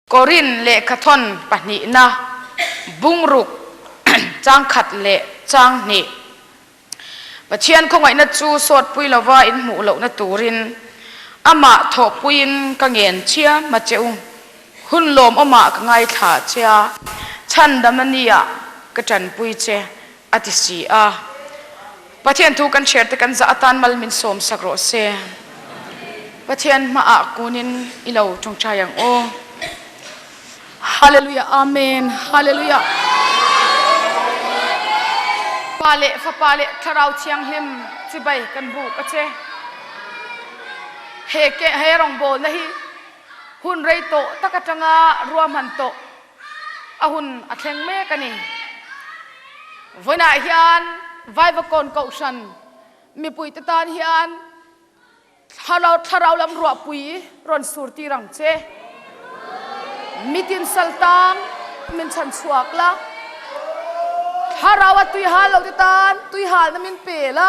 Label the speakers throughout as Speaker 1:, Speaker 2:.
Speaker 1: Korin lehkhathawn pahnihna, bungruk chang khat leh chang hnih. Pathian khawngaihna chu sawtpui lova inhmuh lohna turin amah thawhpuiin ka ngen chiam a che u. Hun lawmawmah ka ngaithla che a, chhandamna nîah ka ṭanpui che, a ti si a. Pathian thu kan chhiarte kan zah atân mal min sâwmsak rawh se. Pathian hmaah kunin i lo ṭawngṭai ang u. Haleluya, amen. Haleluya. Pa leh fapa leh thlarau thianghlim chibai kan bu ka che. He ke he rawngbawlna hi hun rei tawh tak atanga ruahman tawh a hun a thleng mek a ni. Vawiinah hian Vaivakawn Kohhran mipuite tan hian thlarau thlarau lam ruahpui rawn surtir ang che. Mitin saltang min chan chhuak la, thlarau a tuihal lo te tan tuihal na min pe la,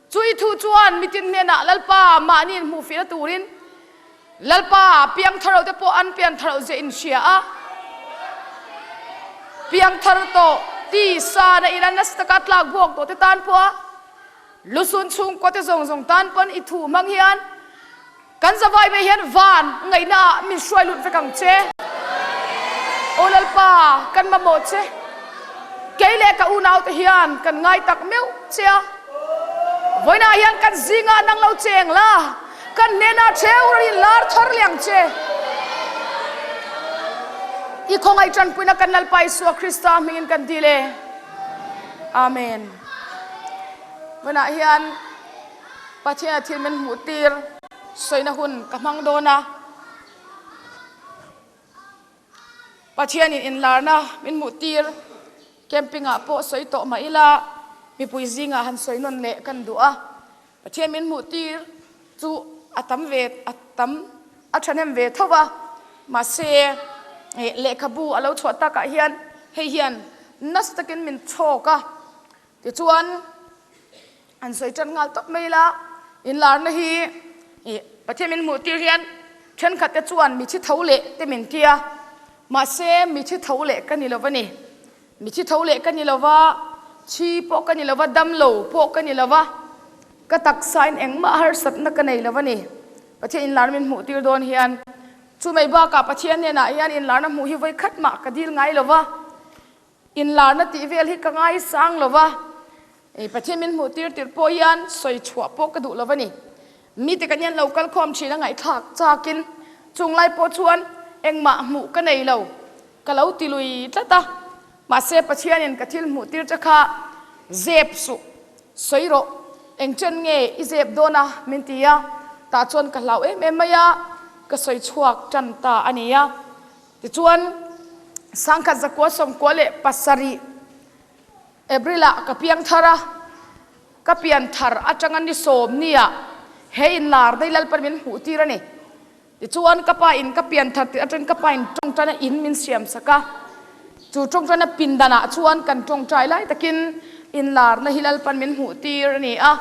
Speaker 1: Chu i thu chuan mitin hnenah Lalpa mahni inhmuh fiahna turin Lalpa piangtharo te pawh an piantharo zia in hria a piangthar to tisa na in an nasa taka tlak buak to te tan pawh a lusun chhungkaw te zawng zawng tan pawn i thu hmang hian kan zavai me hian van ngaina min hruai lut vek ang che o lalpa kan mamawh che kei leh ka unaute hian kan ngai tak meuh che a vaina hian kan zinga nang lo cheng la kan nena cheu rin lar thor liang che i khongai tanpuina kan lalpa Isua Krista hmingin kan dile amen vaina hian Patea thil min hmuhtir sawina hun ka hmang dawn a. Pathianin inlarna min hmuhtir campingah pawh sawi tawh mah ila mipui zingah han sawi nawn leh kan duh a. Pathian min hmuhtir chu a tam ve a tam a ṭhahnem ve tho a. Mahse eh, lehkhabu a lo chhuah takah hian hei hian nasa takin min chhawk a. tichuan an sawi tan nghal tawp mai la inlarna hi i pathian min hmuh tir hian thenkhat te chuan mithi tho leh te min tia mahse mithi tho leh ka ni lova ni mithi tho leh ka ni lova chi pawh ka ni lova damlo pawh ka ni lova ka taksain engmah harsatna ka nei lova ni pathian inlar min hmuh tir dawn hian chu mai bakah pathian hnenah hian inlarna hmuh hi vawikhat mah ka dil ngai lova inlarna tih vel hi ka ngaisang lo a e pathian min hmuh tir tirh pawh hian sawi chhuah pawh ka duh lo a ni mite kan hian lo kal khawm ṭhin a ngaihthlak chakin chung lai pawh chuan engmah hmuh ka nei lo ka lo ti lui tlat a mahse pathianin ka thil hmuh tir che kha zep suh sawi rawh eng chen nge i zep dawn a min ti a tah chuan ka hlau em em mai a ka sawi chhuak ṭan ta a nia Tichuan, sangkhat za kua som kua le pasarih Abrilah ka piang thara ka pian thar atanga ni sawm nia he in lar dai lalpan min hmuh tir ani. Tichuan ka pa in ka pian thar ti atang ka pa in tawngtana in min siam saka chu tawngtana pindanah chuan kan tawngtai lai takin in larna hi lalpan min hmuh tir ani a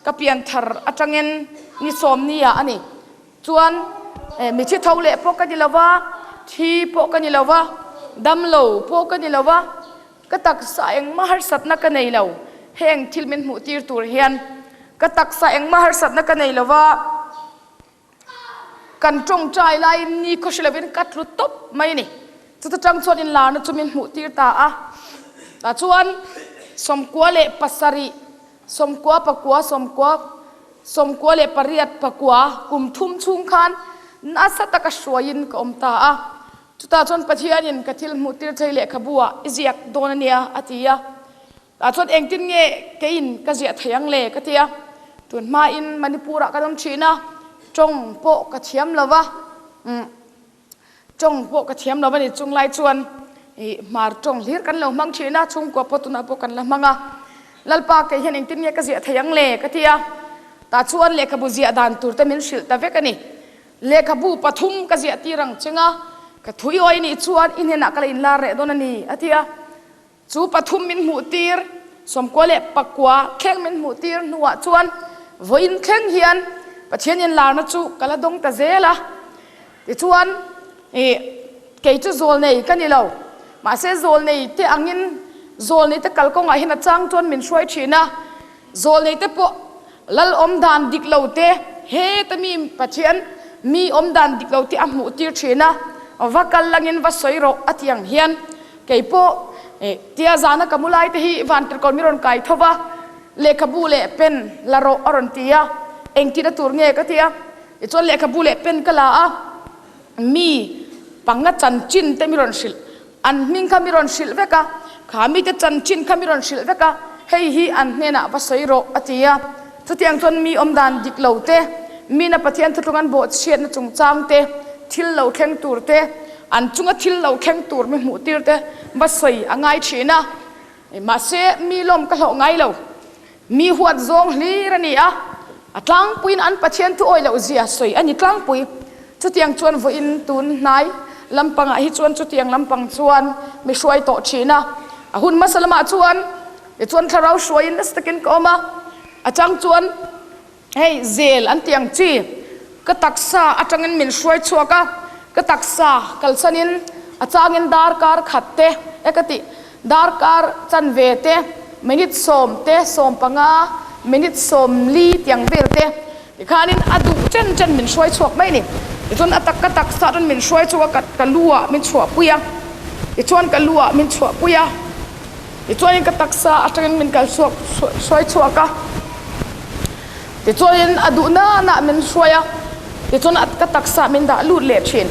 Speaker 1: ka pian thar atangin ni sawm nia ani. chuan eh, mi thi tho leh pawh ka ni lova thi pawh ka ni lova damlo pawh ka ni lova ka taksa engmah harsatna ka nei lo heng thil min hmuh tir tur hian ka taksa engmah harsatna ka nei lova kan tawngtai laiin ni khaw hrelovin ka tlu top mai ni chuta tang chuan in larna chu min hmuh tir ta a tah chuan sawmkua leh pasarih Sawmkua pakua sawmkua sawmkua leh pariat pakua kum thum chhung khan nasa taka hruaiin ka awm ta a. Chutah chuan Pathianin ka thil hmuhtir che lehkhabu-ah i ziak dawn ania a ti a. Tah chuan engtin nge keiin ka ziah theih ang le ka tia. Tun hmain Manipur-ah kan awm thin a, tawng pawh ka thiam lo va. Mm. tawng pawh ka thiam lo ani chung lai chuan i hmar tawng hlir kan lo hmang thin a chhungkua pawh tunah pawh kan la hmang a lalpa kei hian engtin nge ka ziah theih ang le ka tia tah chuan lehkhabu ziah dan tur te min hrilh ta vek ani lehkhabu pathum ka ziah tir ang chenga ka thuî awi nih chuan in hnenah ka la inlar reh dawn ani a tia chu pathum min hmuhtir sawmkua leh pakua thleng min hmuhtir hnuah chuan vawiin thleng hian Pathianin larna chu ka la dawng ta zel a tichuan kei chu zawlnei ka ni lo mahse zawlnei te angin zawlneite kalkawngah hian a chang chuan min hruai thin a zawlnei te pawh lal awmdan dik lo te heta mi pathian mi awmdan dik lo te a hmuh tir thin a va kal langin va sawi rawh a tiang hian kei pawh eh, tia zana ka mulai te hi van tirkon mi rawn kai tho va lehkhabu leh pen la rawh a rawn tia engtina tur nge ka tia e chuan lehkhabu leh pen ka la a mi panga chan chin te mi rawn hrilh an hming kha mi rawn hrilh vek a kha mi te chanchin kha mi rawn hrilh vek a hei hi an hnenah va sawi rawh a ti a chutiang chuan mi awmdan dik lo te mi na pathian thutlung an bawhchhiatna chungchang te thil lo thleng tur te an chunga thil lo thleng tur mi hmuh tir te va sawi a ngai thin a mahse mi lawm ka hlawh ngai lo mi huat zawng hlir ani a a tlangpuiin an pathian thu awih loh zia sawi ani tlangpui chutiang chuan vawiin tun hnai lampangah hi chuan chutiang lampang chuan mi hruai tawh thin a a hun hmasa lamah chuan tichuan thlarau hruaiin nasa takin ka awm a a chang chuan Hei zel an ti ang chi ka taksa atangin min hruai chhuak a ka taksa kalsanin a changin darkar khat te e ka ti darkar chanve te minute sawm te sawm panga minute sawm li tiang vel te tikhanin a duh chen chen min hruai chhuak mai ni tichuan a tak ka taksa chuan min hruai chhuak a ka, ka lu ah min chhuahpui a tichuan ka lu ah min chhuahpui a tichuan ka taksa atangin min kal chhuak hruai chhuak a tichuan a duhna na min hruai a tichuan ka taksa min dah lut leh thin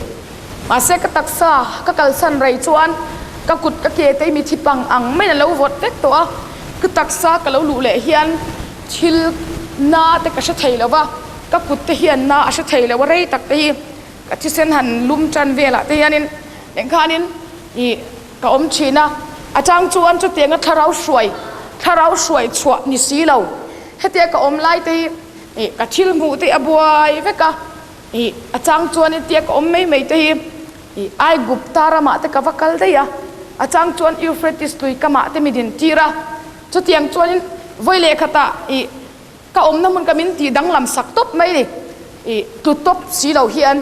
Speaker 1: mahse ka taksa ka kalsan rai chuan ka kut ka ke te mi thi pang ang maiin a lo vawt vek tawh a ka taksa ka lo luh leh hian thil na te ka hre thei lova ka kut te hian na a hre thei lo a rei tak te hi ka thisen han lum tan velah te hianin engkhanin i ka awm thin a a chang chuan chutianga thlarau hruai thlarau hruai chhuah ni si lo hetia ka awm lai te hi eh, ka thil hmuh te a buai vek a eh, a chang chuan hetia ka awm mai mai te hi eh, ai gupta ramah te ka va kal dai a a chang chuan Euphrates tui kamah te mi din tir a chutiang chuan in voi leh khata i ka awmna hmun ka min ti danglam sak tawp mai ni i tlu tawp si lo hian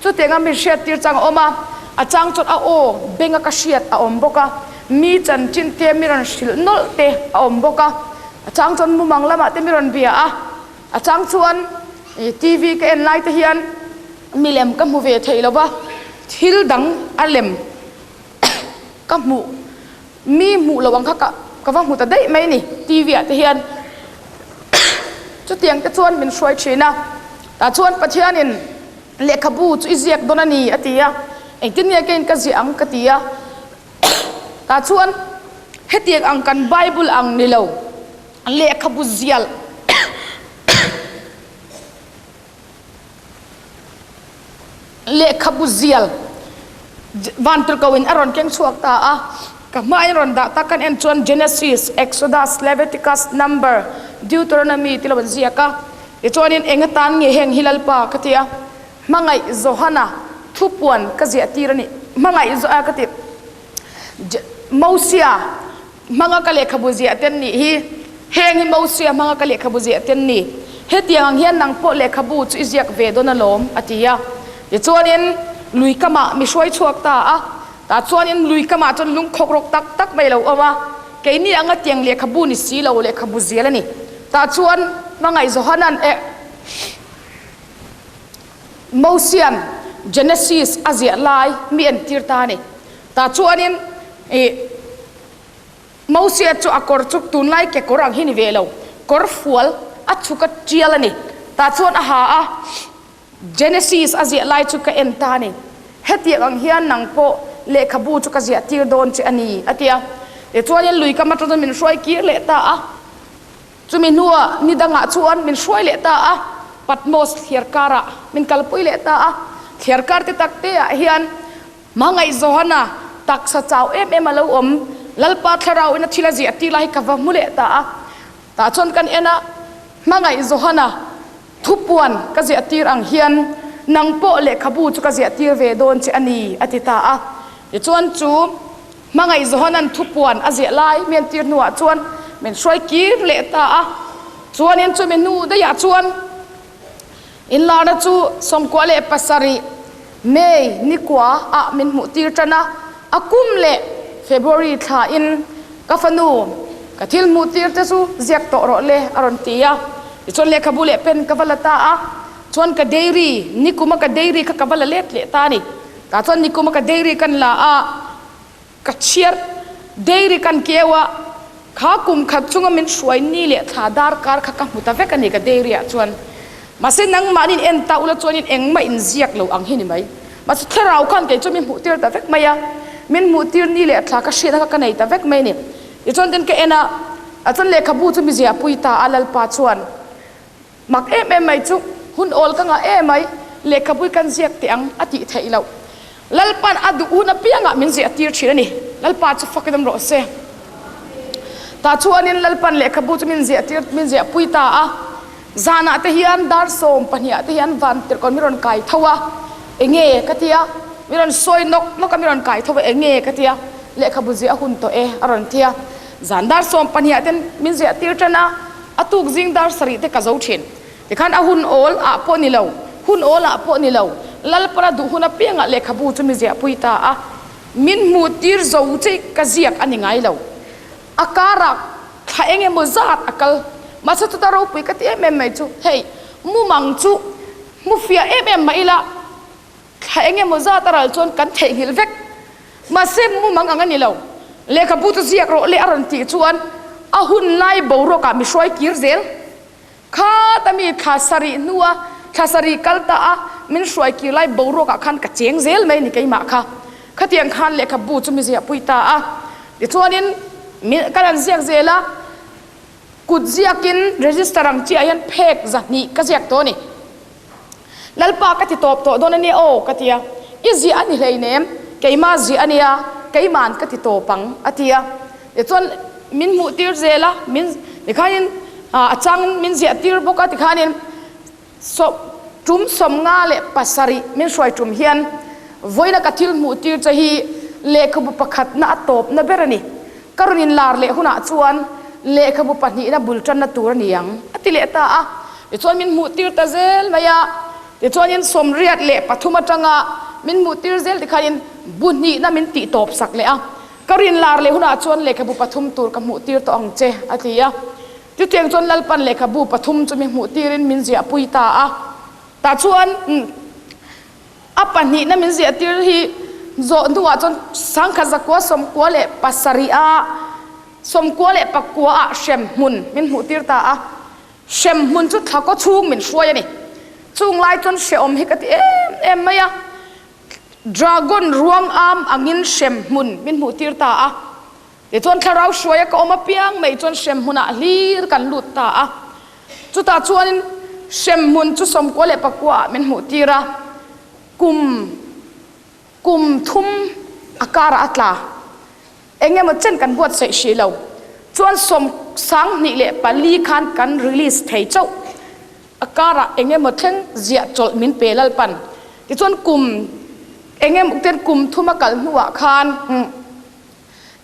Speaker 1: chutianga min hriattir chang a awm a a chang chuan a aw benga ka hriat a awm bawk a mi chanchin te mi rawn hrilh nawlh te a awm bawk a a chang chuan mumang lamah te mi rawn bia a a chang chuan tv ka en lai te hian milem ka hmu ve thei lova thil dang a lem ka hmuh mi hmuh lo ang kha ka, ka va hmu ta daih mai ni TV-ah te hian chutiang te chuan min hruai thin a tah chuan Pathianin lehkhabu chu i ziak dawn a ni a ti a engtin nge kein ka ziah ang ka ti a tah chuan hetiang ang kan bible ang ni lo lehkhabu zial lehkhabu zial vantirhkoin a rawn keng chhuak ta a ka hmain rawn dah tak kan en chuan Genesis Exodus Leviticus number Deuteronomy ti loin ziak a tichuanin eng atan nge heng hi lalpa ka tia hmangaih Johana thupuan ka ziah tir ani hmangaih Johana ka ti Mosia manga ka lekhabu zia ten ni hi heng hi mo sia manga ka lekhabu zia ten ni hetiang ang hian nang po lekhabu chu i ziak ve don alawm atia tichuanin lui kama mi hruai chuak ta a ta chuanin lui kama chuan lungkhawk rok tak tak mai lo awma keini anga tiang lekhabu ni si lo lekhabu zia la ni ta chuan mangai zohanan e mosian genesis azia lai mi en tir ta ni ta chu anin i mosiat chu a kawr chu tunlai kekawr ang hi ni ve lo kawr fual a chhuk a tial ani ta chuan a ha a Genesis a ziah lai chu ka en ta ni hetiang ang hian nang pawh lehkhabu chu ka ziah tir dawn che ani atia e chuanin lui kam atang min hruai kir leh ta a chumi hnua ni dangah chuan min hruai leh ta a Patmos thliarkara min kalpui leh ta a thliarkar te tak te ah hian Mangai Johana taksa chau em em a lo awm Lalpa thlarau ina thil a zi ati lai ka va mu leh ta a ta chon kan ena Mangai Johana thupuan ka zi atir ang hian nang po lehkhabu chu ka zi atir ve dawn che ani ati ta a tichuan chu Mangai Johanan thupuan a ziah lai men tir hnuah chuan min hruai kir leh ta a chuan in chu mi hnu daiah chuan inlarna chu sawmkua leh pasarih May ni kua ah min hmuhtir tan a a kum leh February thlain ka fanu ka thil hmuhtir te chu ziak tawh rawh le a rawn ti a tichuan lehkhabu leh pen ka va la ta a chuan ka dairy nikuma ka dairy kha ka va la let leh ta ni tah chuan nikuma ka dairy kan la a ka chiar dairy kan kewa kha kum khat chunga min hruai ni leh thla darkar kha ka hmu ta vek ani ka dairy ah chuan mase nangman in en ta ula chuan in engmah in ziak lo ang hi ni mai mase thlarau kan kei chu min hmuh tir ta vek mai a min hmuh tir ni leh thla ka hriatna kha ka nei ta vek mai ni i chuan tin ka ena a chuan lehkhabu chu mi ziahpui ta a lalpa chuan mak em em mai chu hun awl ka ngah em mai lehkhabu kan ziak teh ang a tih theih loh lalpan a duhun apiangah min ziah tir thin ani lalpa chu fakdam rawh se ta chuanin lalpan lehkhabu chu min ziah tir min ziah pui ta a zanah te hian dar sawm pahnih te hian van tirkon mi rawn kai tho a enge ka tia mi rawn sawi nok nok a mi rawn kai tho a enge ka tia lehkhabu ziah hun tawh e a rawn tia zan dar sawm pahnih ten min ziah tir tan a a tuk zing dar sarih te ka zo thin tikhan a hun awl ah pawh ni lo hun awl ah pawh ni lo lalpara duh hun apianga lehkhabu chu mi ziah pui ta a min hmuh tir zo che ka ziak ani ngai lo a kara thla eng emaw zat a kal masa ta ropui ka ti em em mai chu hei mumang chu mu fia em em mah ila thla engemaw zat a ral chuan kan theihnghilh vek mahse mumang ang a ni lo lehkhabu chu ziak rawh le a rawn tih chuan a hun lai boruakah mi hruai kir zel kha ta mi thla sarih hnua thla sarih kal ta a min hruai kir lai boruakah khan ka cheng zel mai ni keimah kha khatiang khan lehkhabu chu mi ziahpui ta a tichuanin kan an ziak zel a kut ziakin register ang chi ahian phek za hnih ka ziak to ni Lalpa ka ti tawp tawh dawn ania aw ka tia i zia ani hleinem keima zia ania keiman ka ti tawp ang a tia tichuan min hmuh tir zel a min tikhanin a chang min ziah tir bawk a tikhanin tum sawmnga leh pasarih min hruai tum hian vawiina ka thil hmuh tir che hi lehkhabu pakhatna a tawpna ber ani ka rawn inlar leh hunah chuan lehkhabu pahnihna bul tanna tur a ni ang a ti leh ta a tichuan min hmuh tir ta zel mai a tichuan in sawmriat leh pathum atanga min hmuh tir zel tikhan in bu hnihna min tih tawp sak leh a ka rinlar leh hunah chuan lehkhabu pathum tur ka hmuh tir tawh ang che a ti a chutiang chuan lalpan lehkhabu pathum chu min hmuh tirin min ziahpui ta a tah chuan a pahnihna min ziahtir hi zawh hnuah chuan sangkhat zakua sawmkua leh pasarih a sawmkua leh pakua ah hremhmun min hmuhtir ta a hremhmun chu thla kaw chhung min hruai ani chung lai chuan hrehawm hi ka ti em em mai a dragon ruang am angin hremhmun min hmuhtir ta a ti chuan thlarau hruaia ka awm apiang mai chuan hremhmunah hlir kan lut ta a chutah chuanin hremhmun chu sawmkua leh pakuaah min hmuhtir a kum kum thum a kara a tla engemaw chen kan buatsaih si lo chuan sawm sang hnih leh pali khan kan release thei chauh a karah engemaw thleng ziah chawlh min pe lalpan tichuan kum engem ten kum thuma kal hnuah khan hmm,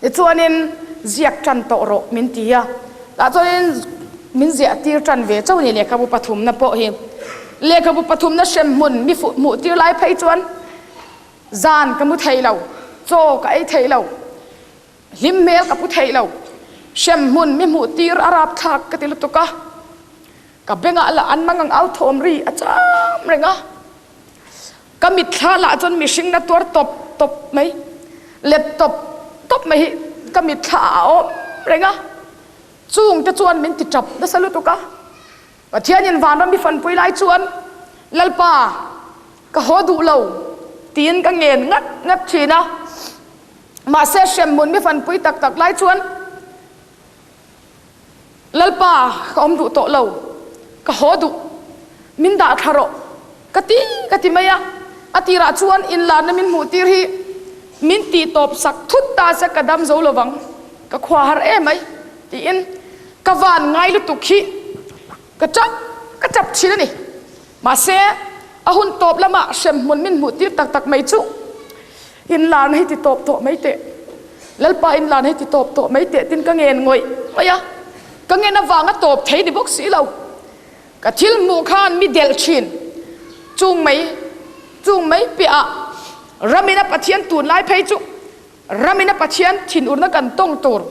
Speaker 1: tichuanin ziak tan tawh rawh min ti a tah chuan min ziah tir tan ve chauh ni lehkhabu pathumna pawh hi lehkhabu pathumna hrem hmun mi hmuh tir lai phei chuan zan ka mu thei lo chaw ka ei thei lo hlim hmel ka pu thei lo hrem hmun mi hmuh tir a rapthlak ka ti lutuk a ka bengah lah an mangang al thawm ri a cham reng a ka mitthla lah chuan mihring na tuar tawp tawp mai laptop top mai hi ka mitthla a awm reng a chung te chuan min ti tap nasa lutuk a Pathianin vanram i fanpui lai chuan lalpa ka haw duh lo tiin ka ngen ngat ngat thin a mahse hremhmun mi fanpui tak tak lai chuan Lalpa, ka awm duh tawh lo. Ka haw duh. Min dahthla rawh. Ka ti ka ti mai a. A tirah chuan inlana min hmuh tir hi min ti tawp sak thut ta se ka dam zo lovang. Ka khua har em mai tiin ka van ngai lutuk hi ka ṭap ka ṭap ṭhin a ni mahse a hun tawp lama hremhmun min hmuh tir tak tak mai chu inlan hei ti tawp tawh mai teh lalpa inlan hei ti tawp tawh mai teh tin ka ngen ngawih ngawih a ka ngen avanga tawp thei ni bawk si lo ka thil hmuh khan mi del ṭhin chung mai chung mai piah a ramin a pathian tunlai phei chu ramina pathian thinurna kan tawng tur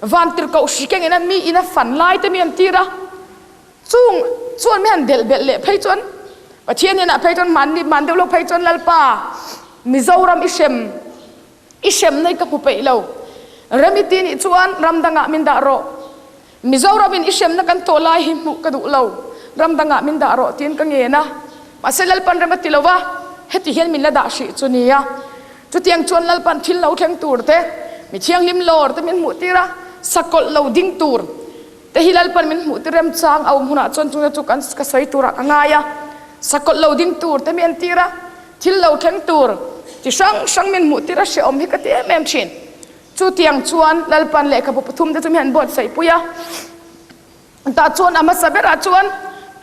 Speaker 1: vantirhkoh sikeng ina mi ina fan lai te mi an tir a chung chuan mi han delh belh leh phei chuan pathian inah phei chuan man man deuh lo phei chuan lalpa mizoram i hrem i hremna ka hmu peih lo remiti nih chuan ram dangah min dah rawh Mizoramin i hremna kan to lai hi hmuh ka duh lo. Ramdangah min dah rawh tiin ka ngen a. Mahse Lalpan rem a ti lo a, heti hian min la dah hrih chu nia. Chutiang chuan Lalpan thil lo thleng tur te, mi thianghlim lawr te min hmuhtir a, sakawlh lo ding tur te hi Lalpan min hmuhtir remchang a awm hunah chuan chung chu kan ka sawi turah ka ngai a. Sakawlh lo ding tur te min entir a, thil lo thleng tur chi hrang hrang min hmuhtir a hrehawm hi ka ti em em thin. chu tiang chuan lalpan lehkhabu pathumte chu mi han buatsaih pui a tah chuan a hmasa berah chuan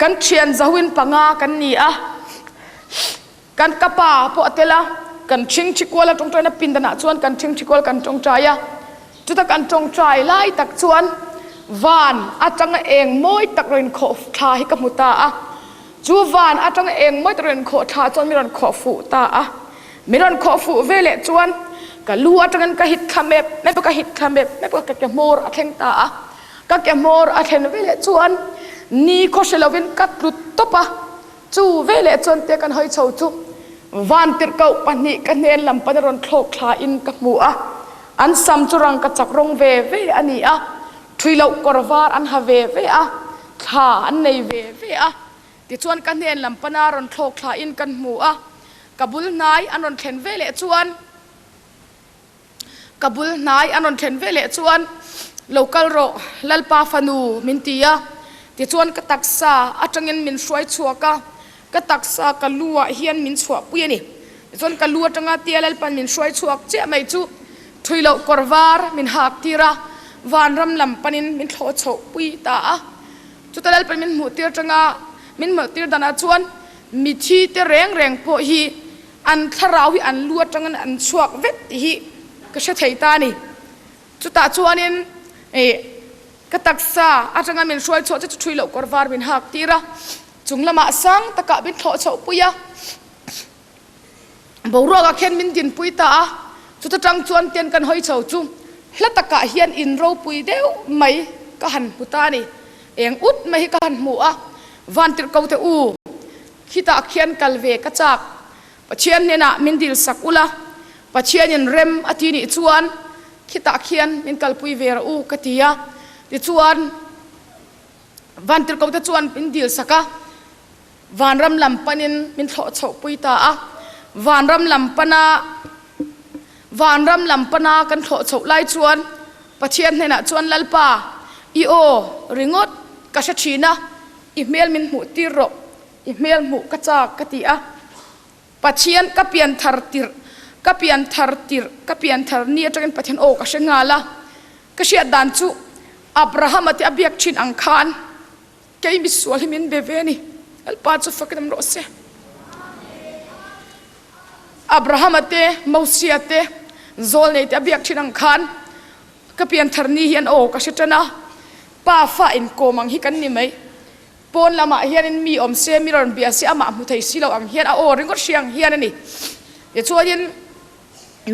Speaker 1: kan ṭhian zoin panga kan ni a kan ka pa pawh a tel a kan ṭhingṭhi kual a ṭawngṭaina pindanah chuan kan ṭhingṭhi kual kan ṭawngṭai a chuta kan ṭawngṭai lai tak chuan van atanga eng mawi tak lo in khawh thla hi ka hmu ta a chu van atanga eng maw rawn khawh tha chuan min rawn khawh fuh ta a min rawn khawh fuh veleh chuan ka lu atangin ka hit thla mep mep ka hit thla mep mep ka ke hmawr a thleng ta a ka ke hmawr a thlen veleh chuan ni khaw hre lovin ka tlut top a chu veleh chuan te kan hoi chho chu van tirhkoh pahnih ka hnen lam pan rawn thlawk thla in ka hmu a an sam chu rang ka chak rawng ve ve ani a ṭhui loh kawr var an ha ve ve a thla an nei ve ve a tichuan ka hnen lam pana rawn thlawk thla in kan hmu a ka bul hnai an rawn thlen veleh chuan ka bul hnai an rawn thlen veleh chuan lo kal rawh lalpa fanu min ti a tichuan ka taksa aṭangin min hruai chhuak a ka taksa ka lu ah hian min chhuahpui ani chuan ka lu atanga tia lalpan min hruai chhuak chiah mai chu ṭhuilo kawr var min hak tir a vanram lam panin min thlawh chhoh pui ta a chuta lalpan min hmuh tir ṭanga min hmuh tir danah chuan mithi te reng reng pawh hi an thlarau hi an lu atangin an chhuak vek tih hi ka hre thei ta ni chutah chuanin eh ka taksa atanga min hruai chhuah che chu ṭhuilo kawr var min hak tir a chung lamah sang taka min thlawh chhoh pui a boruakah khian min dinpui ta a chuta ṭang chuan ten kan hawi chho chu hla takah hian in ropui deuh mai ka han hmu ta ni eng ut mai hi ka han hmu a van tirh ko te u khitah khian kal ve ka chak pathian hnenah min dil sak ula pathianin rem a ti nih chuan khitah khian min kalpui ve ra u ka tia tichuan Vantirhkohte chuan min dil sak a, vanram lam panin min thlawh chhohpui ta a. Vanram lam pana vanram lam pana kan thlawh chhoh lai chuan Pathian hnenah chuan Lalpa, i aw ringawt ka hre ṭhin a, i hmel min hmuhtir rawh. I hmel hmuh ka châk ka ti a. Pathian ka pian thar tirh ka pian thar tirh ka pian thar ni aṭangin Pathian aw ka hre nghal a. ka hriat dan chu Abrahama te a biak thin ang khan kei misual hi min be ve ni alpa chu fakin ro se Abrahama te Mosia te zawlnei te a biak thin ang khan ka pianthar ni hian o ka hre tan a pa fa in komang hi kan ni mai pawn lamah hian in mi awm se mi rawn bia se amah hmu thei silo ang hian a o ringawt siang hian ani e chuanin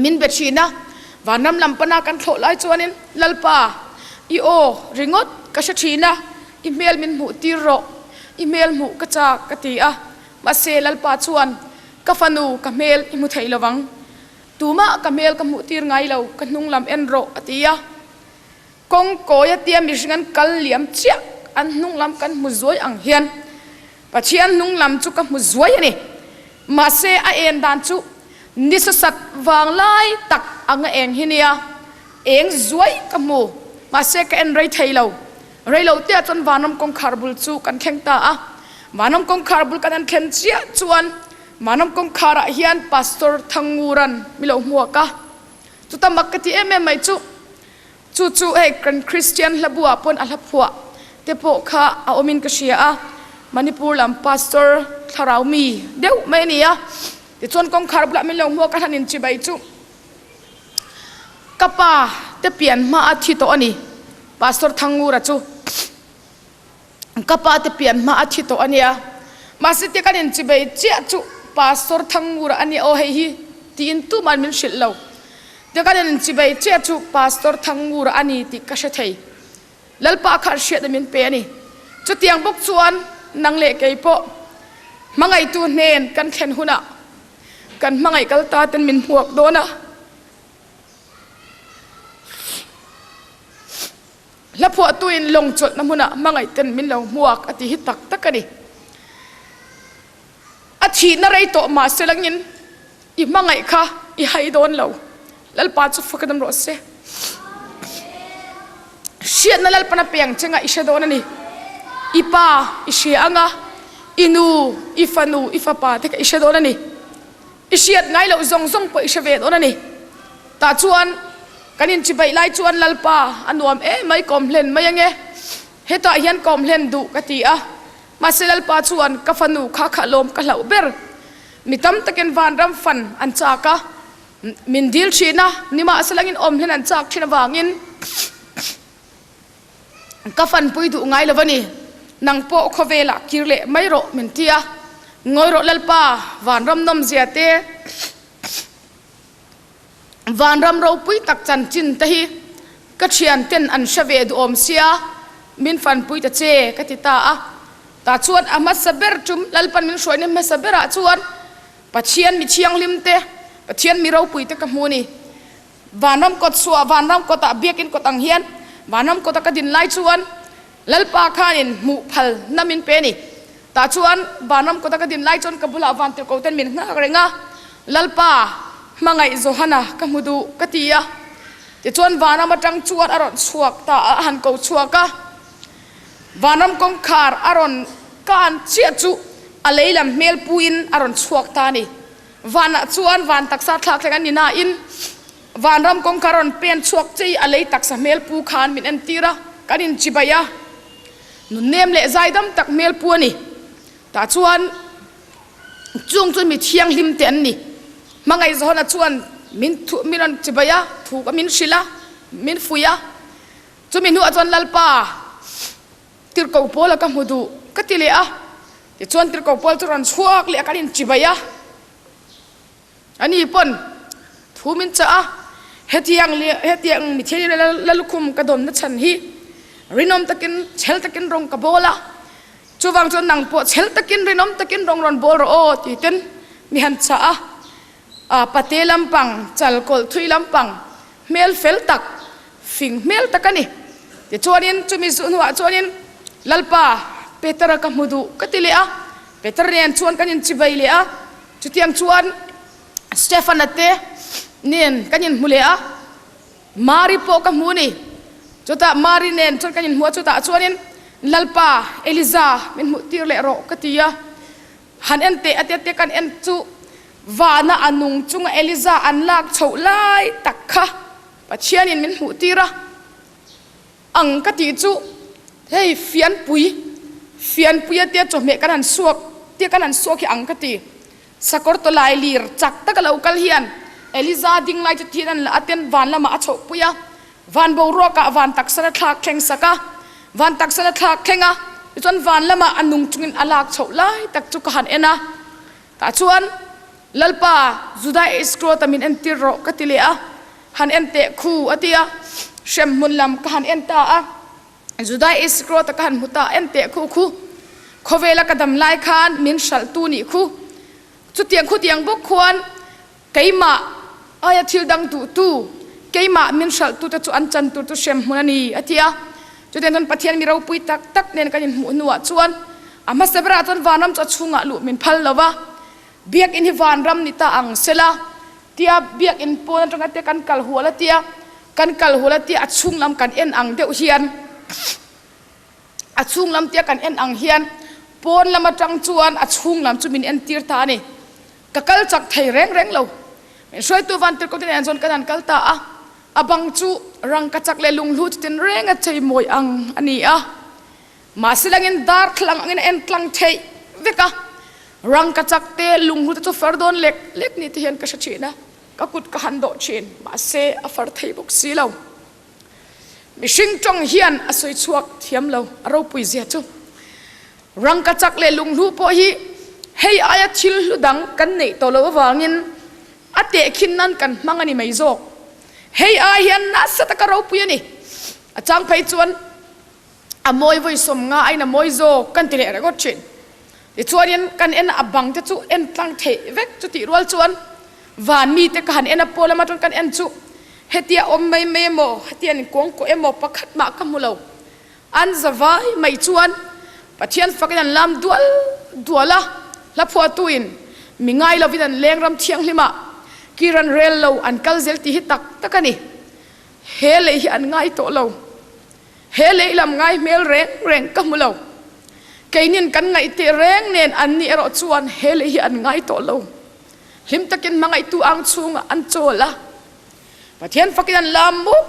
Speaker 1: min be thin a vanram lam pana kan thlawh lai chuanin lalpa i aw ringawt ka hre thin a i hmel min hmuh tir rawh i hmel hmuh ka chak ka ti a mahse lalpa chuan ka fanu ka hmel i hmu thei lovang tumah ka hmel ka hmuh tir ngai lo ka hnunglam en rawh a ti a kawng kawia tia mihring an kal liam chiah an hnunglam kan hmu zuai ang hian Pathian hnunglam chu ka hmu zuai ani. Mahse a en dan chu ni sasak vanglai tak anga eng hi nia eng zuai ka hmu. Mahse ka en rei thei lo. Reilote ah chuan vanram kawngkhar bul chu kan thleng ta a. Vanram kawngkhar bul kan an thlen chiah chuan vanram kawngkharah hian Pastor Thangnguran mi lo hmuak a. Chuta mak ka tih em em mai chu chu chu hei kan christian hlabuah pawn a hla phuah te pawh kha a awmin ka hria a manipur lam pastor thlarau mi deuh mai ni a tichuan kawngkhar bulah min lo hmuak a han in chibai chu ka pa te pian hma a thi tawh ani pastor thangura chu ka pa te pian hma a thi tawh ania mahse ti kan in chibai chiah chu pastor thangmura ani aw hei hi tiin tuman min hrilh lo te kan in chibai chiah chu pastor thangmura ani tih ka hre thei lalpa khan hriat min pe ani chutiang bawk chuan nang leh kei pawh hmangaihtu hnen kan thlen hunah kan hmangaih kal ta ten min hmuak dawn a hla phuahtuin lawngchawlhna hmuna hmangaihten min lo hmuak a ti hi tak tak a ni a thihna rei tawh mah se langin i hmangaih kha i hai dawn lo lalpa chu fakadam rawh se hriatna lalpana piangchenga i hre dawn a ni i pa i hria anga i nu i fanu i fapa te kha i hre dawn a ni i hriat ngai loh zawng zawng pawh i hre ve dawn a ni tah chuan kan inchibai lai chuan lalpa a nuam e mai kawmhlen mai ange hetah hian kawmhlen duh ka ti a mahse lalpa chuan ka fanu kha kha lawm ka hlauh ber mi tam takin vanram fan an chak a min dil ṭhina nimahselangin awm hlen an chak ṭhin avangin ka fanpui duh ngai lo ani nang pawh khawvelah kir leh mai rawh min tia ngawi rawh lalpa vanram nawm zia te vanram ropui tak chanchin te hi ka thianten an hre ve duhawm sia min fanpui ta che ka ti ta a tah chuan a hmasa ber tum lalpan min hruaina hmasa berah chuan pathian mi thianghlim te pathian mi ropui te ka hmu ni vanram kawt suah vanram kawtah biakin kawt ang hian vanram kawta ka din lai chuan lalpa khanin hmuh phal namin pe ni ta chuan vanram kawta ka din lai chuan ka bulah van tirko ten min nghak reng a lalpa hmangaih Johana ka hmu du ka ti a tichuan vanram atang chuan a rawn chhuak ta a han ko chhuak a vanram kawngkhar a rawn kan chiah chu a leilam hmel puin a rawn chhuak ta ni vanah chuan van taksa thlak thleng ani na in vanram kawng ka rawn pen chhuak che a lei taksa hmel pu khan min en tir a kan in chibai a nun nem leh zaidam tak hmel pu ani ta chuan chung chu mi thianghlim te an ni hmangaih zona chuan min thu min rawn chibai a thu ka min hrilh a min fuih a chumi hnu ah chuan lalpa tirhkoh pawl a ka hmu duh ka ti leh a tichuan tirhkoh pawl chu rawn chhuak leh a kan in chibai a ani pawn thu min chah a hetiang le hetiang mi thil lalukhum ka dawn na chhan hi rinawm takin chhel takin rawng ka bawl a chuvang chuan nang pawh chhel takin rinawm takin rawng rawn bawl rawh aw ti ten mi han chah a pate lampang chalkawlh thui lampang hmel fel tak fing hmel tak ani ti chuanin chumi hnuah chuanin lalpa Petera ka hmu duh ka ti leh a Peter nen chuan kan in chibai leh a chutiang chuan Stefana te nen kan in hmu leh a Mari pawh ka hmu ni chutah Mari nen chuan kan in hmu a chutah chuanin lalpa Eliza min hmuh tir leh rawh ka ti a han en te ate te kan en chu vana a nung chunga Eliza an lak chhoh lai tak kha Pathianin min hmuh tir a ang ka tih chu hei fianpui fianpui ate chawhmeh kan han suak te kan han suak hi ang ka ti sakawr tawlailir chak taka lo kal hian Eliza ding lai chu thian an la aten van lama a chhoh pui a van boruaka van taksana thlak thleng saka van taksana thlak thenga chuan van lama a nung chungin a lak chhoh lai tak chu ka han ena ta chuan lalpa juda iskro ta min entir ro ka ti le a han en te khu atia hrem hmun lam ka han en ta a juda iskro ta ka han hmuta en te khu khu khawela ka dam lai khan min hraltu ni khu chutiang khutiang bawk khuan keimah aia thil dang duhtu keimah min hralhtute chu an chan tur chu hrem hmun a ni a ti a chutiang chuan Pathian mi ropui tak tak nen kan inhmuh hnuah chuan a hmasa berah chuan vanram chu a chhungah luh min phal lo va biak in hi vanram ni ta ang sela tia biak in pawn atanga te kan kal hual a tia kan kal hual a tia a chunglam kan en ang deuh hian a chunglam tia kan en ang hian pawn lam atang chuan a chunglam chu min entir ta a ni ka kal chak thei reng reng lo min hruaitu van tirkawt in an kan an kal ta a abang chu rangkachak leh lunghlu chu tin reng a chei mawi ang ani a ma silangin dar thlang angin en tlang thei veka rangkachak te lunghlu te chu far dawn lek lek ni te hian ka hre thin a ka kut ka han do thin mahse a far thei bawk si lo mihring tawng hian a sawi chhuak thiam lo a ropui zia chu rangkachak leh lunghlu pawh hi hei aia thil hlu dang kan neih tawh loh avangin a tehkhin nan kan hmang a ni mai zawk hei ai hian nasa taka ropui a ni a chang phei chuan a mawi voi som nga ain a mawi zawk kan ti leh regot thin tichuan kan en a bang te chu en tlang thei vek chu tih rual chuan van mi te ka han en a pawl lama kan en chu hetia awm mai mai emaw hetian kong ko emaw pakhat mah ka hmu lo an zavai mai chuan pathian fakin an lam dual dual a hla phuahtuin mi ngai lovin an leng ram thianghlima kiran rel lo an kal zel tih hi tak tak ani he lei hi an ngai tawh lo he lei lam ngai hmel reng reng ka hmu lo keinin kan ngaih te reng nen an ni erawh chuan he lei hi an ngai tawh lo hlim takin mangaihtu ang chunga an chawl a Pathian fakin lam mup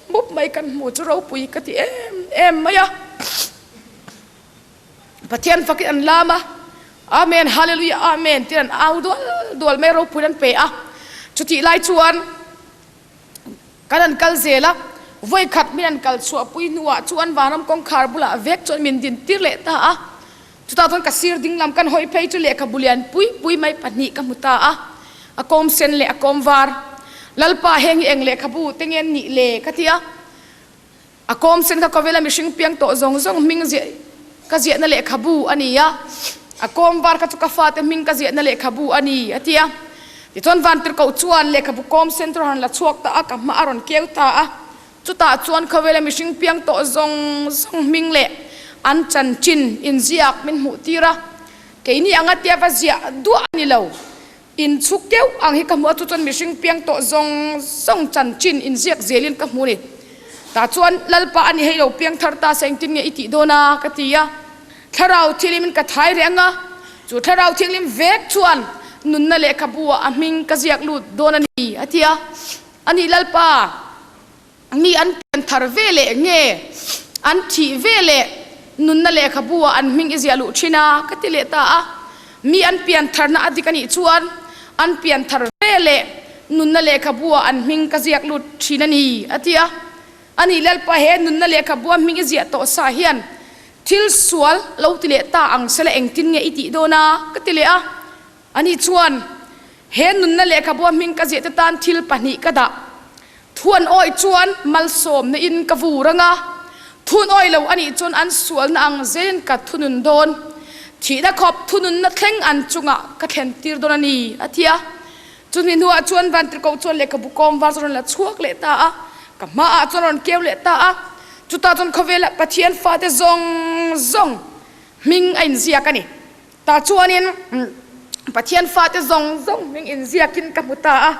Speaker 1: mup mai kan hmu chu ropui ka ti em em mai a. Pathian fakin an lam a. Amen, hallelujah, amen. Tiran au dual dual mai ropui an pe a. Chuti lai chuan kan an kal zela voi khat min an kal chuapui hnuah chuan vanram kawngkhar bulah vek chuan min din tir leh ta a. Chutah chuan ka sir dinglam kan hawi phei chu lehkhabu lian pui pui mai pahnih ka hmu ta a. A kawm sen leh a kawm var. Lalpa heng eng lehkhabu te nge ni le ka tia. A kawm sen kha khawvela mihring piang tawh zawng zawng hming ziah ka ziahna lehkhabu a ni a. A kawm var kha chu ka fate hming ka ziahna lehkhabu a ni a tia. Tichuan vantirhkoh chuan lehkhabu kawm sen chu han la chhuak ta a, ka hma a rawn keu ta a. chutah chuan khawela mihring piang tawh zawng zawng hming leh an chan chin inziak min hmuh tir a keini anga tia va ziah duah ni lo inchhuk deuh ang hi ka hmu a chu chuan mihring piang tawh zawng zawng chan chin inziak zelin ka hmu ni tah chuan lalpa ani hei lo piang thar ta se engtin nge i tih dawn a ka ti a thlarau thianghlim ka thai reng a chu thlarau thianghlim vek chuan nunna lehkhabu a hming ka ziak lut dawn a ni a ti a Ani lalpa, mi an pianthar veleh nge an thih veleh nunna lehkhabua an hming i ziah luh thin a ka ti leh ta a mi an piantharna a dik anih chuan an pianthar veleh nunna lehkhabua an hming ka ziak lut thin ani a ti a ani lalpa he nunna lehkhabua hming i ziah tawh sa hian thil sual lo ti leh ta ang sela engtin nge i tih dawn a ka ti leh a ani chuan he nunna lehkhabua hming ka ziahte tan thil pahnih ka dah thuan awi chuan malsawmna in ka vu rang a thun awi lo ani chuan an sualna ang zein ka thunun dawn thihna khawp thununna thleng an chunga ka thlen tir dawn ani a ti a chumi hnuah chuan vantirko chuan lehkhabu kawm var chuan la chhuak leh ta a ka hmaah chuan rawn keu leh ta a chutah chuan khawvela pathian fate zawng zawng hming a inziak ani tah chuanin pathian fate zawng zawng hming inziakin ka hmu ta a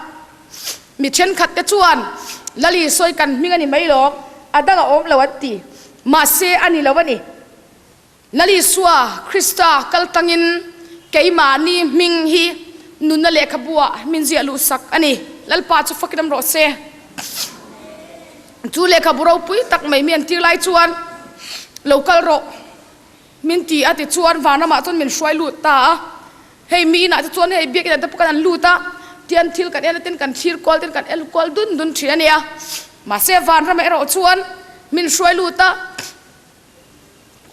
Speaker 1: mi ṭhenkhat te chuan lal isuai kan hming a ni mai lawm a dang a awm lo an ti mahse a ni lo a ni lal isua krista kaltangin keimahni hming hi nunna lehkhabua min ziah luhsak a ni lalpa chu fakin rawh se chu lehkhabu ropui tak mai mi an tir lai chuan lo kal rawh min ti a ti chuan van lamah chuan min hruai lut ta a hei mi inah te chuan hei biak inah te pawh kan an lut a tian thil kan en ten kan thir kual ten kan el kual dun dun thin ani a mahse van ram erawh chuan min hruai lut a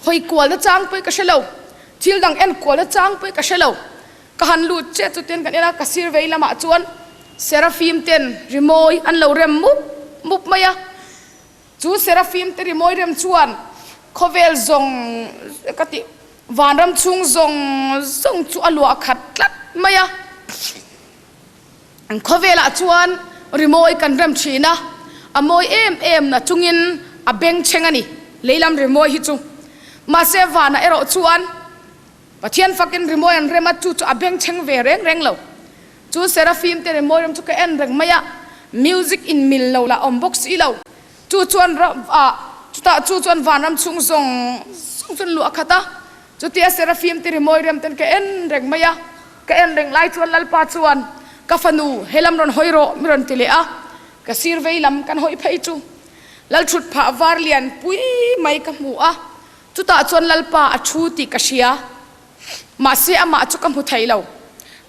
Speaker 1: hawi kual na chang pawh ka hre lo thil dang en kual na chang pawh ka hre lo ka han lut che chu ten kan en a ka sir vei lamah chuan serafim ten rimawi an lo rem mup mup mai a chu serafim te rimawi rem chuan khawvel zawng ka ti vanram chung zawng zawng chu a luah khat tlat mai a an khawvelah chuan rimawi kan rem thin a a mawi em em na chungin a bengchheng ani leilam rimawi hi chu mahse vana erawh chuan Pathian fakin rimawi an rem a chu chu a bengchheng ve reng reng lo. Chu Seraphim te rimawi ram chu ka en reng mai a, music in mil lo la awm bawk si lo. Chu chuan chutah chu chuan vanram chung zawng zawng chuan luh a khat a. Chutia Seraphim te rimawi rem ten ka en reng mai a. Ka en reng lai chuan Lalpa chuan ka fanu helam rawn hawi rawh mi rawn ti leh a. Ka sir vei lam kan hawi phei chu lal thut phah var lian pui mai ka hmu a. Chutah chuan Lalpa a thu tih ka hria, mahse amah chu ka hmu thei lo.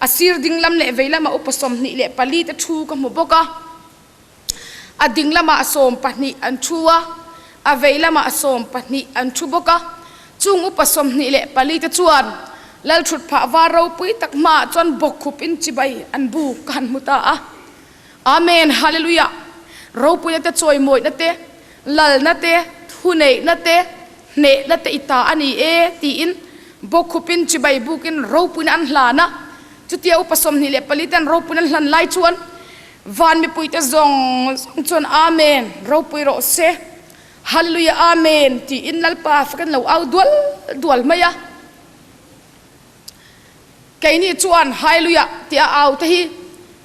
Speaker 1: A sir dinglam leh veilama upa sawmhnih leh pali te thu ka hmu bawk a. A dinglamah sawm pahnih an thu a, a veilamah sawm pahnih an thu bawk a. Chung upa sawmhnih leh pali te chuan Lal thutphah var ropui tak hmaah chuan bawkkhup in chibai an buk ka han hmu ta a. amen hallelujah ropuina te chawimawina te lalna te thuneihna te hnehna te ita ani e tiin bokhupin chibai bukin ropuina an hlana chutia upa somni leh palitan ropuina hlan lai chuan van mipuite zong chuan amen ropui ro se hallelujah amen tiin lalpa fakan lo au dual dual mai a keini chuan hailuya tia au te hi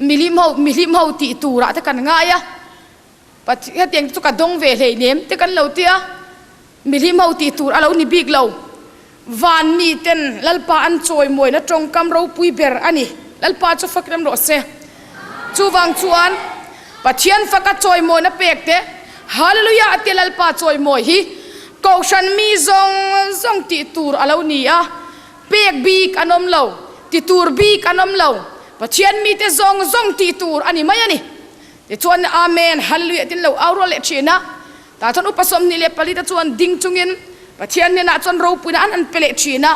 Speaker 1: milim ho mihlim ho tih turah te kan ngai a pat hetiang chu ka dong ve hlei nem te kan lo tia mihlim ho tih tur a lo ni bik lo van mi ten lalpa an chawimawi na tawngkam ropui ber ani lalpa chu fak ram rawh se Chuvang chuan Pathian faka chawimawina pekte Hallelujah ati Lalpa chawimawi hi kohhran mi zawng zawng tih tur a lo ni a pek bik an awm lo ti tur bik an awm lo Pathian mite zawng zawng tih tur a ni mai a ni tichuan amen hallelujah din lo auro leh thina ta chuan upa sawmhnih leh palita chuan ding chungin Pathian hnenah chuan ropuina an an pe leh thin a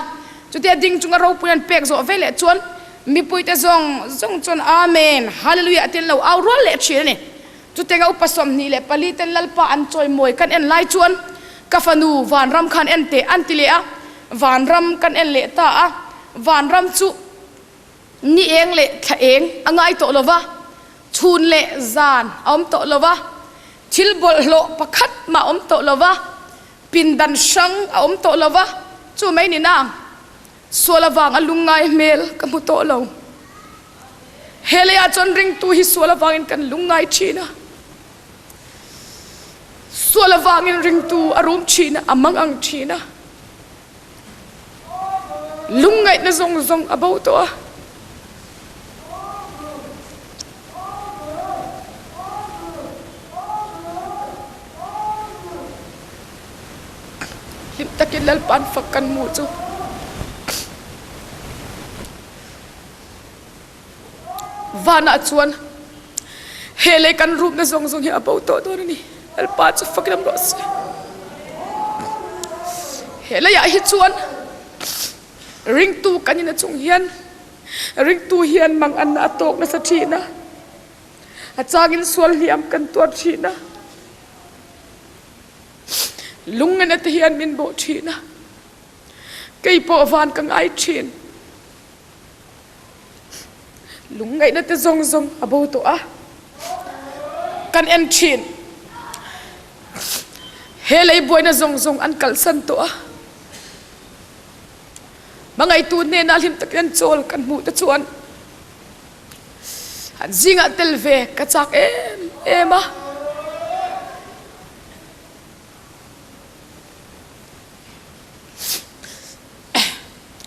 Speaker 1: chutia ding chunga ropuina an pek zawh veleh chuan mipuite zawng zawng chuan amen hallelujah tin lo au rual leh thin ani tutenga upa sawmhnih leh paliten lalpa an chawimawi kan en lai chuan ka fanu vanram khan en te an ti leh a vanram kan en leh ta a vanram chu ni eng leh thla eng a ngai tawh lova chhun leh zan a awm tawh lova thil bawlhhlawh pakhat mah awm tawh lova pindan hrang a awm tawh lova chu mai ni na sual avang a lungngai hmel ka hmu tawh lo he leiah chuan ringtu hi sual avangin kan lungngai thin a sual avangin ringtu a rum thin a a mangang thin a lungngaihna zawng zawng a bo tawh a hlim takin lalpan fak kan hmu chu Vana chuan he lei kan rukna zawng zawng hi a bo tawh dawn ani. Lalpa chu faklam rawh se. He leiah hi chuan ringtu kan in a chung hian ringtu hian manganna a tawk nasa thin a. A changin sual hliam kan tuar thin a. Lungngan te hian min bawh thin a. Kei pawh van ka ngai thin. lungngaihna te zawng zawng a bo tawh a kan en thin he lei buaina zawng zawng an kalsan tawh a mangaihtu hnena hlim takin chawl kan hmuh te chuan an zinga tel ve ka chak em em a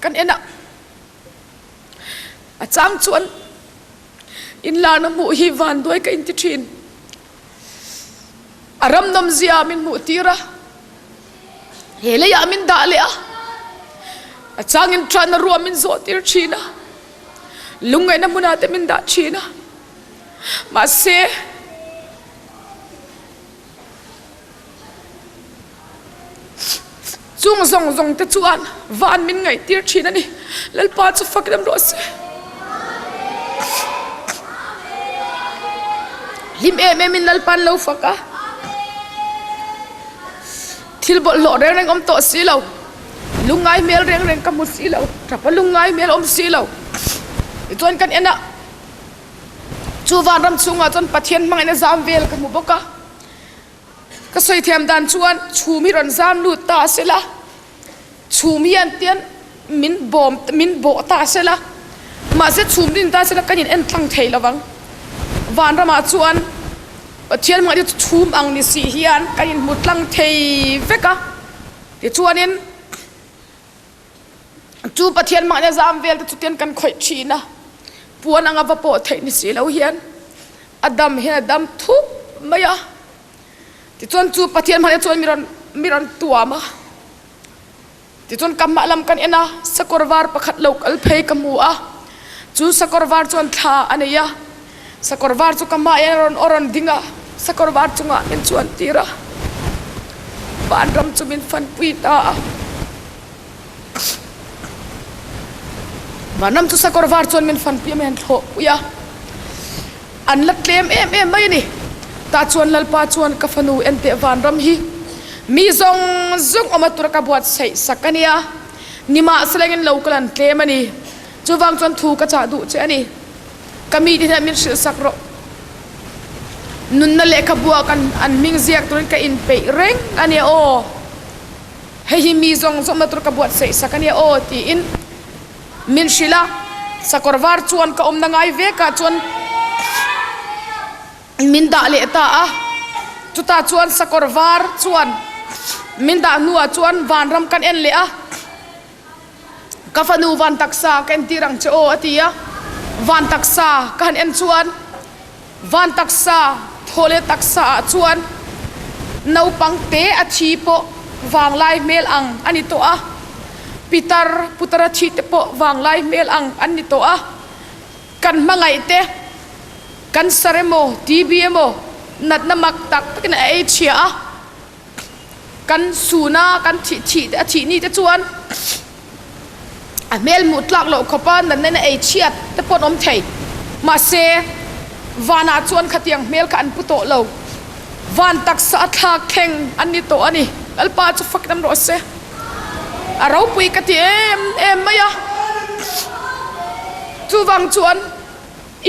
Speaker 1: kan ena a chang chuan inlarna hmuh hi vanduai ka inti thin a ram nawm zia min hmuh tir a he leiah min dah leh a a changin ṭanna ruam min zawh tir ṭhin a lungngaihna hmunah te min dah ṭhin a mahse chung zawng zawng te chuan van min ngaih tir thin ani lalpa chu fakdam rawh se hlim em em in lalpan lo fak a thil bawlhhlawh reng reng awm tawh si lo lungngai hmel reng reng ka hmu si lo tap a lungngai hmel awm si lo tichuan kan en a chu van ram chhungah chuan pathian hmangaihna zam vel ka hmu bawk a ka sawi thiam dan chuan chhum hi rawn zam lut ta sela chhum hian tian min bawm min bawh ta sela mahse chhum din ta sela kan in en tlang thei lovang vanramah chuan Pathian mah chu chhum ang ni si hian kan in hmu tlang thei vek a tichuanin chu pathian mahnia zam vel te chu ten kan khawih thin a puan anga va pawh theih ni si lo hian a dam hian a dam thup mai a tichuan chu pathian mahnia chuan mi rawn mi rawn tuam a tichuan kamma lam kan en a sakawr var pakhat lo kal phei ka hmu a chu sakawr var chuan thla a nei a sakawr var chu kamain a rawn a rawn ding a sakawr var chungah min chuan tir a vanram chu min fanpui ta a vanram chu sakawr var chuan min fanpui a min thlawhpui a an la tlem em em mai ni ta chuan lalpa chuan ka fanu ente vanram hi mi zawng zawng awma tura ka buat saih sak ania nimahselengin lo kalan tlem ani chuvang chuan thu ka chah duh che a ni ka mi te hian min hrilhsak rawh nunna lehkhabua kan an hming ziak turin ka inpeih reng a nia aw hei hi mi zawng zawngna tur ka buatsaih sak a nia aw tiin min hrilh a sakawr var chuan ka awmna ngai vekah chuan min dah leh ta a chutah chuan sakawr var chuan min dah hnuah chuan vanram kan en leh a ka fanu van taksa ka en tir ang che aw a ti a van taksa ka han en chuan van taksa thole taksa ah chuan naupang te a thi pawh vanglai hmel ang ani to a pitar putara thi te pawh vanglai hmel ang an ni to a kan mangai te kan sar emaw tb emaw natna mak tak takin a ei chhia a kan suna kan thih thih te a thih ni te chuan a hmel hmuh tlak loh khawpa natna ei chhiat te pawn awm thei mahse vanah chuan khatiang hmel kha an pu tawh lo van taksa a thlak kheng an ni tawh a ni lalpa chu fakin rawh se a ropui ka ti em em mai a chuvang chuan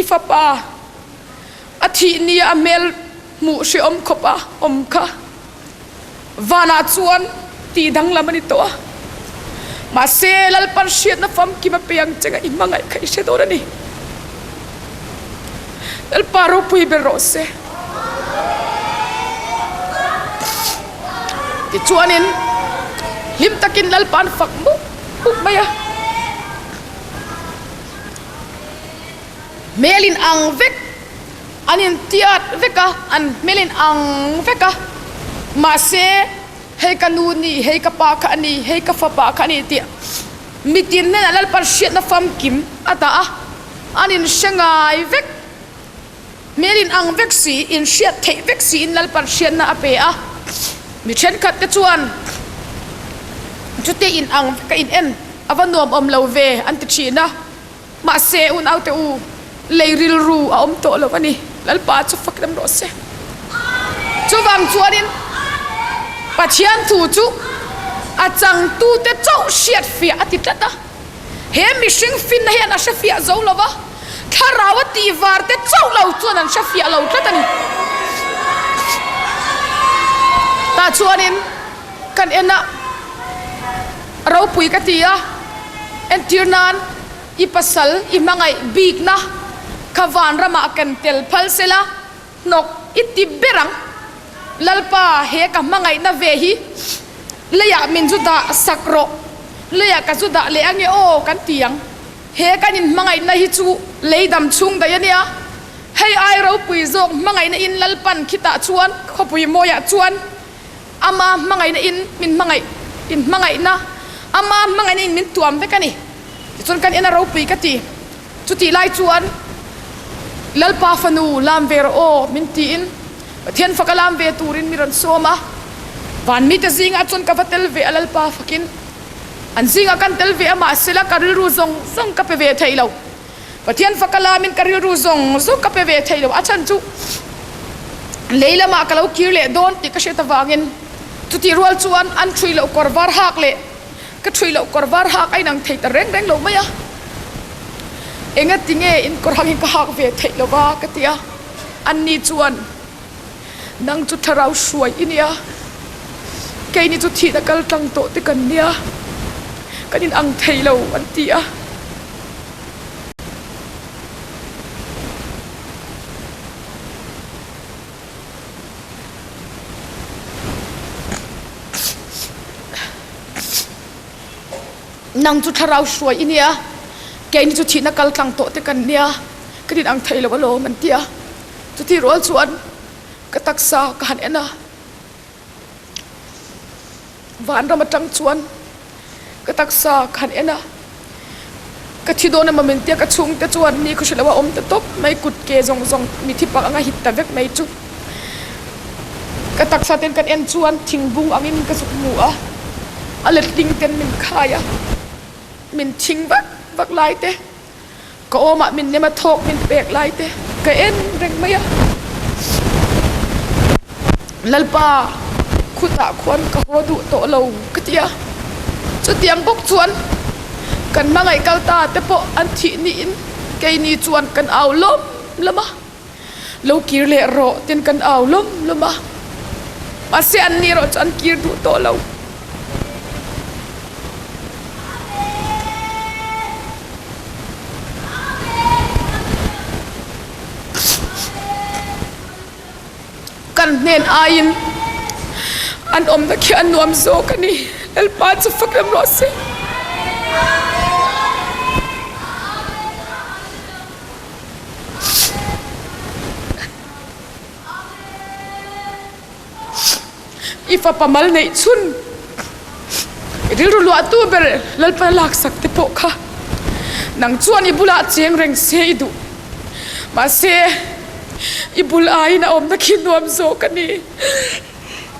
Speaker 1: i fapa a thih ni a hmel hmuh hreawm khawpa awm kha vanah chuan ti danglam ani tawh a mahse lalpan hriatna famkim a pe ang chenga i hmangaih kha i hre dawn ani lalpa ropui ber rawh se tichuanin hlim takin lalpan fak muk muk mai a hmelin ang vek an in tiat vek a an hmelin ang vek a mahse hei ka nu ni hei ka pa kha ani hei ka fapa kha ani tih mitin nen lalpan hriatna famkim ata a an in hre ngai vek hmelin ang vek si in hriat theih vek si in lalpan hriatna a pe a mi thenkhat te chuan chute in ang ka in en ava nuam awm lo ve an ti thin a mahse unaute u lei rilru a awm tawh lo ani lalpa chu fak ram rawh se chuvang chuanin pathian thu chu a changtute chauh hriatfiah a ti tlat a he mihring finna hian a hrefiah zo lova thlarau a ti var te chauh lo chuan an hrefiah lo tlat ani ta chuanin kan en a ropui ka ti a entirnan i pasal i hmangaih bikna kha vanramah kan tel phal sela hnawk i ti ber ang lalpa he ka hmangaihna ve hi leiah min zu dah sak rawh leiah ka zu dah leh ange aw kan ti ang he kan in hmangaihna hi chu leidam chung daih a nia hei ai ropui zawk hmangaihna in lalpan khitah chuan khawpui mawiah chuan ama hmangaihna in min hmangaih in hmangaihna ama hmangaihna in min tuam vek ani tichuan kan ina ropui ka ti chutih lai chuan lalpa fanu lam ve rawh aw min tiin pathian faka lam ve turin mi rawn sawm a van mi te zinga chuan ka va tel ve a lalpa fakin an zinga kan tel ve a mah sela ka rilru zawng zawng ka pe ve thei lo Pathian faka lamin ka rilru zawng zawng ka pe ve thei lo. A chhan chu leilama ka lo kir leh dawn tih ka hriat avangin chutih rual chuan an ṭhui lo kawr var hak leh ka ṭhui lo kawr var hak a inang thei ta reng reng lo mai a. Engatinge in kawr hangin ka hak ve theih loh a ka tia. Anni chuan nang chu thlarau hruai i nia keini chu thihna kal tlang tawh te kan nia kan in ang thei lo an ti a nang chu thlarau hruai i nia keini chu thihna kal tlang tawh te kan nia kan in ang thei lo alawm an tia chutihrual chuan ka taksa ka han en a vanram atang chuan ka taksa ka han en a ka thi dawn emaw min tia ka chhungte chuan ni khaw hre lo a awm ta tawp mai kutke zawng zawng mithi pak anga hit ta vek mai chu ka taksa ten kan en chuan thingbung angin ka zuk hmu a a letling ten min khai a min thing vak vak lai te ka awmah min nem a thawk min pek lai te ka en reng mai a lalpa khutah khuan ka haw duh tawh lo ka tia chutiang bawk chuan kan hmangaih kal ta te pawh an thih niin keini chuan kan au lawm lawm a lo kir leh rawh ten kan au lawm lawm a mahse an ni erawh chu an kir duh tawh lo kan hnen aiin an awmna khi a nuam zawk a ni lalpa chu fakrem rawh se I fapa mal neihchhun i rilru luahtu ber Lalpa laksak te pawh kha nang chuan i bulah cheng reng se i duh mahse i bul aiin a awmna khi nuam zawk a ni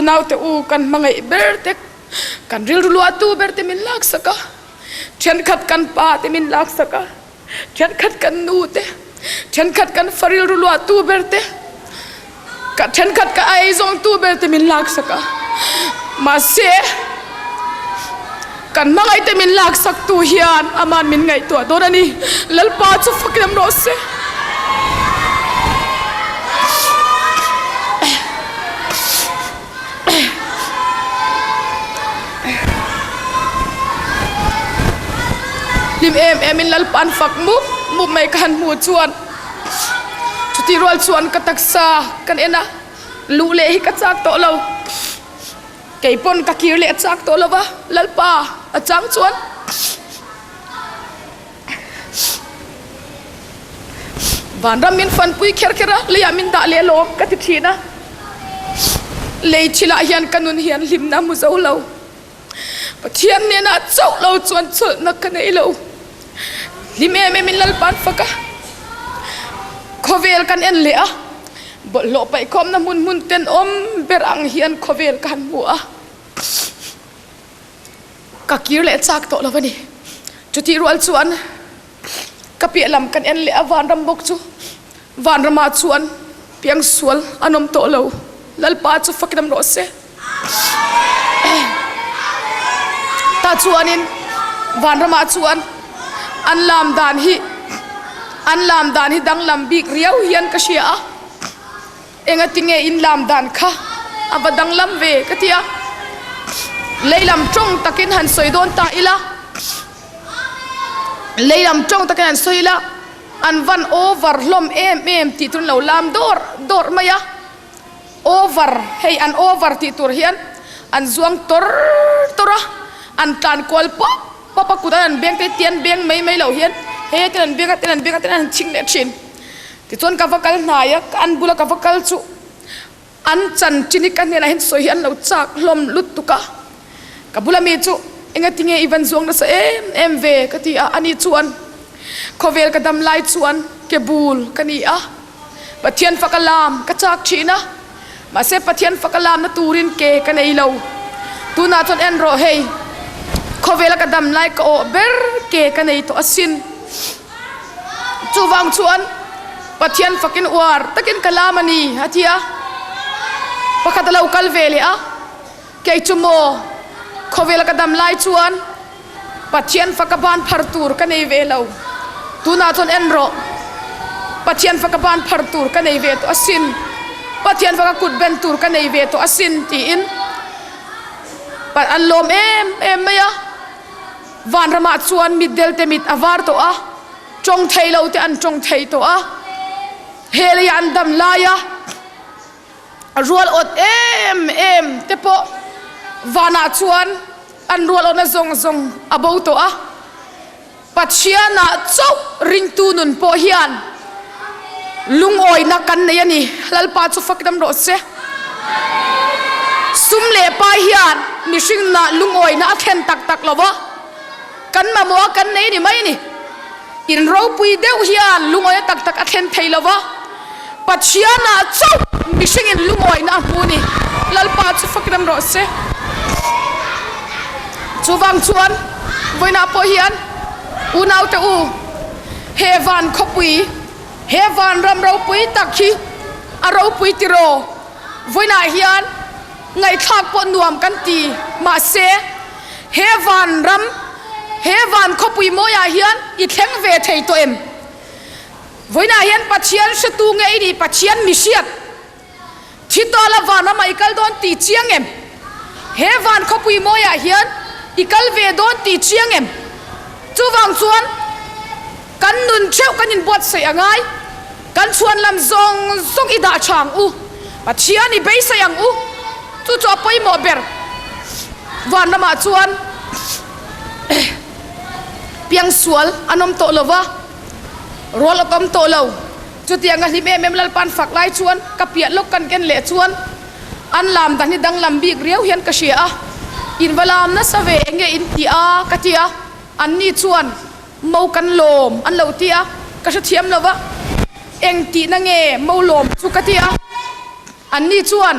Speaker 1: unaute u kan mangai ber te kan rilru luahtu ber te min lak saka thenkhat kan pa te min lak saka Thenkhat kan nu te, thenkhat kan faril ru luah tu ber te, ka thenkhat ka aizawng tu ber te min laksak a. Mahse, kan mangai te min laksak tu hian aman min ngaihtuah dawn ani. Lalpa chu fakin rawh se. hlim em em in lalpa'n fak mup mup mai ka han hmu chuan chutih rual chuan ka taksa kan en a lu leh hi ka chak tawh lo kei pawn ka kir leh chak tawh lo va lalpa a chang chuan vanram min fan pui kher kher a leiah min dah leh lawm ka ti thin a lei thilah hian ka nun hian hlimna mu zo lo pathian nena chauh lo chuan chawlhna ka nei lo hlim em em in lalpan faka khawvel kan en leh a bawlhhlawh paihkhawmna hmun hmun ten awm ber ang hian khawvel kan hmu a ka kir leh chak tawh lo ani chutih rual chuan ka piah lam kan en leh a vanram bawk chu vanramah chuan piangsual an awm tawh lo lalpa chu fakin rawh se ta chuanin vanramah chuan an lam dan hi an lam dan hi danglam bik riau hian ka hria a engatinge in lam dan kha a va danglam ve ka tia leilam tawng takin han sawi dawn ta ila leilam tawng takin han sawi ila an van over hlom em em tih turun lo lam dawr dawr mai a over hei an over tih tur hian an zuang tor tor a an tlan kual pop pop a kut an beng te tian beng mai mai lo hian he ten an beng a ten an beng a ten an ching leh thin tichuan ka va kal hnai a an bula ka va kal chu an chan chin ka hnenah hin sawi hi an lo chak hlawm lutuk a ka bula mi chu engatinge i van zuang nasa em em ve ka ti a ani chuan khawvel ka dam lai chuan ke bul ka ni a pathian faka lam ka chak thin a mahse pathian fakalamna turin ke ka nei lo tunah chuan en rawh hei khawvela ka dam lai ka awh ber ke ka nei tawh asin chuvang chuan pathian fakin uar takin ka lam ani atia pakhat alo kal ve leh a kei chu maw khawvel ka dam lai chuan pathian faka ban phar tur ka nei ve lo tunah chuan en rawh pathian faka ban phar tur ka nei ve tawh asin pathian faka kut ben tur ka nei ve tawh asin tiin an lawm em em mai a vanramah chuan mit delte mit a var tawh a tawng thei lo te an tawng thei tawh a he leia an dam laia a rual awt em em te pawh vanah chuan an rual awtna zawng zawng a bo tawh a Pathiana chauh ringtu nun pawh hian lungawina kan nei a ni lalpa chu fakdam rawh se sum leh pai hian mihringna lungawina a thlen tak tak lova kan mamawh kan nei ni mai ni in ropui deuh hian lungoia tak tak a thlen thei lova pachiana chauh mihringin lungoina a hmu ni lalpa chu fakiran rawh se chuvang chuan vawiinah pawh hian unaute u he van khawpui he van ram ropui tak hi a ropui tiraw vawiinah hian ngaihthlak pawh nuam kan ti mahse he van ram he van khawpui mawia hian i thleng ve thei tawh em vawiina hian pathian hretu nge i nih pathian mi hriat thi tawla van rama i kal dawn ti chiang em he van khawpui mawia hian i kal ve dawn ti chiang em chuvang chuan kan nun cheu kan in buatsaih a ngai kan chhuanlam zawng zawng i dah chang u pathian i beisei ang u chu chu a pawimawh ber van lamah chuan piangsual an awm tawh lova rual awk awm tawh lo chutianga hlim em em lalpan fak lai chuan ka piah lawk kan ken leh chuan an lam dan hi danglam bik riau hian ka hria a invalam nasa ve nge in ti a ka tia anni chuan mo kan lawm an lo ti a ka hrethiam lo a eng tihna nge mo lawm chu ka tia anni chuan